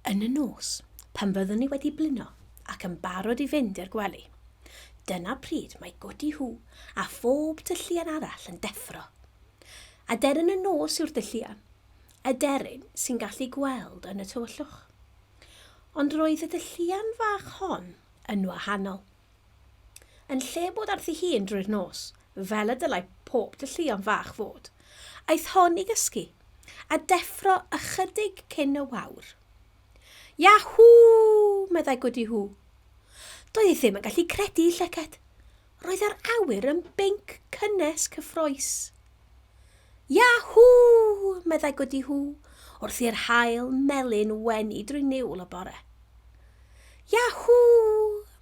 Yn y nos, pan fyddwn ni wedi blino ac yn barod i fynd i'r gwely, dyna pryd mae Godi Hw a phob tylluan arall yn deffro. Aderyn y nos yw'r dylluan, aderyn sy'n gallu gweld yn y tywyllwch. Ond roedd y dylluan fach hon yn wahanol. Yn lle bod ar thi hun drwy'r nos, fel y dylai pob tylluan fach fod, aeth hon i gysgu, a deffro ychydig cyn y wawr. Yahoo! meddai Goody Hoo. Doedd hi ddim yn gallu credu ei llyged. Roedd yr awyr yn binc cynnes cyffrous. Yahw! meddai Gwdi Hw wrth i'r haul melyn wenu drwy niwl y bore. Yahw!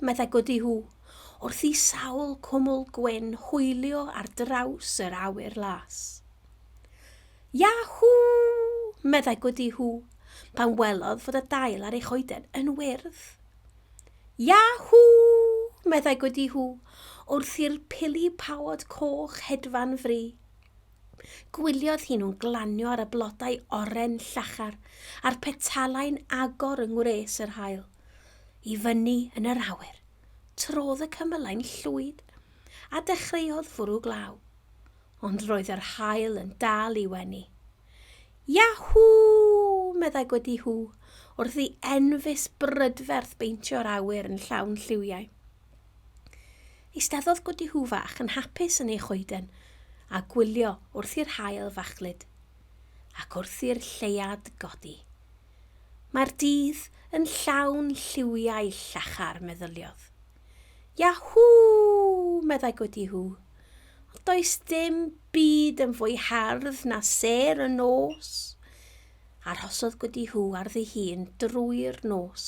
meddai Gwdi Hw wrth i sawl cwmwl gwyn hwylio ar draws yr awyr las. Yahw! meddai Gwdi Hw pan welodd fod y dail ar ei choeden yn wyrdd Yahoo! meddai Gwdi Hw wrth i'r pili pawod coch hedfan fri. Gwyliodd hi nhw'n glanio ar y blodau oren llachar a'r petalau'n agor yng ngwres yr haul. I fyny yn yr awyr, trodd y cymylau'n llwyd a dechreuodd fwrw glaw. ond roedd yr haul yn dal i wenu. Yahw! meddai gwedi hw, wrth i enfys brydferth beintio'r awyr yn llawn lliwiau. Eisteddodd gwedi hw fach yn hapus yn ei choeden a gwylio wrth i'r hael fachlyd ac wrth i'r lleiad godi. Mae'r dydd yn llawn lliwiau llachar, meddyliodd. Yahoo! meddai Gwdi Hw. Ond does dim byd yn fwy hardd na ser y nos. Arhosodd Gwdi Hw ar ddi hun drwy'r nos,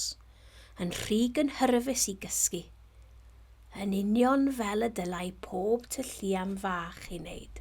yn rhy gynhyrfus i gysgu. Yn union fel y dylai pob tylluan fach ei wneud.